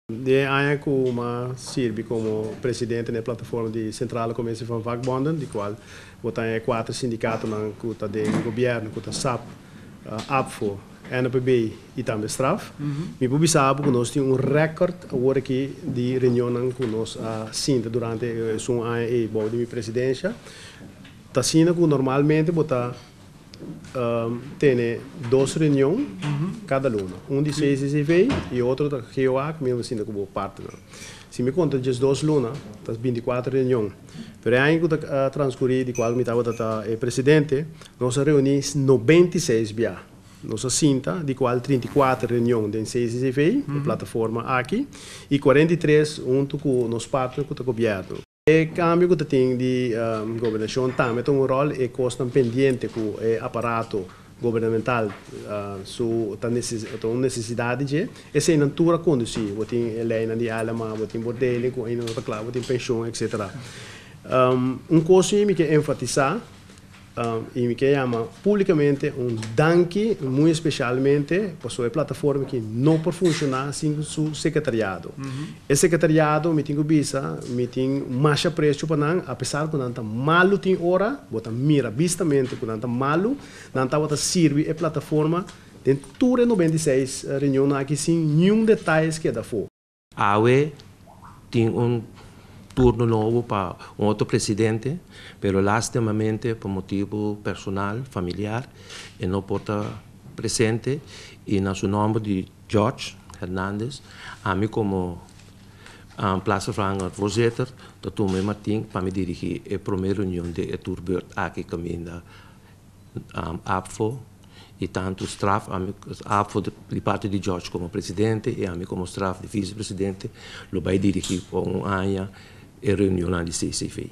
Di e aña ku Uma sirbi komo presidente na e plataforma di Centrale Commissie van Vakbonden, di kual bo ta e kuater sindikatonan ku ta den gobièrnu, ku ta sap, APFO, NPB i tambe Straf, mi por bisa bo ku nos tin un rèkòrt awor aki di reunionnan ku nos a sinta durante esun aña ei bou di mi presidensha. T'asina ku normalmente bo ta tene dos reunion cada luna un di CSCV y otro ta GOA cu mi a sinta cu bo partner si mi conta dje dos luna ta binti cuatro reunion pero e aña cu ta transcuri di cual mi tabata ta e presidente nos a reuni nobenta y seis bia nos a sinta di cual trinta y cuatro reunion den CSCV e plataforma aki y cuarenta y tres hunto cu nos partner cu ta gobierno. E kambio ku ta tin di gobernashon tambe ta un ròl e kosnan pendiente ku e aparato gubernamental su ta un nesesidat di dje. Eseinan tur a kondusí bo tin e leinan di Aylema, bo tin bo deling ku ainda no ta kla, bo tin penshon, etsetera. Un kos mi mi ke enfatisá Y mi ke yama publicamente un danki muy especialmente paso e plataforma aki no por funciona sin su secretariado. E secretariado mi tin cu bisa mi tin mas aprecio pa nan apesar cu nan ta malu tin ora, bo ta mira bistamente cu nan ta malu, nan tabata sirbi e plataforma den tur e noventa i seis reunionnan aki sin niun detalles keda afo. Awe tin un turno nobo pa un otro presidente, pero lastimamente pa motibu personal, familiar, e no por ta presente y na su nomber di George Hernandez, ami como Plaatsvervanger Voorzitter ta tuma e matin pa mi dirigi e prome reunion di e tur beurt aki caminda Apfo y tanto straf ami Apfo di parti di George como presidente y ami como straf di vice presidente lo bay dirigi pa un aña e reunionnan di CCV.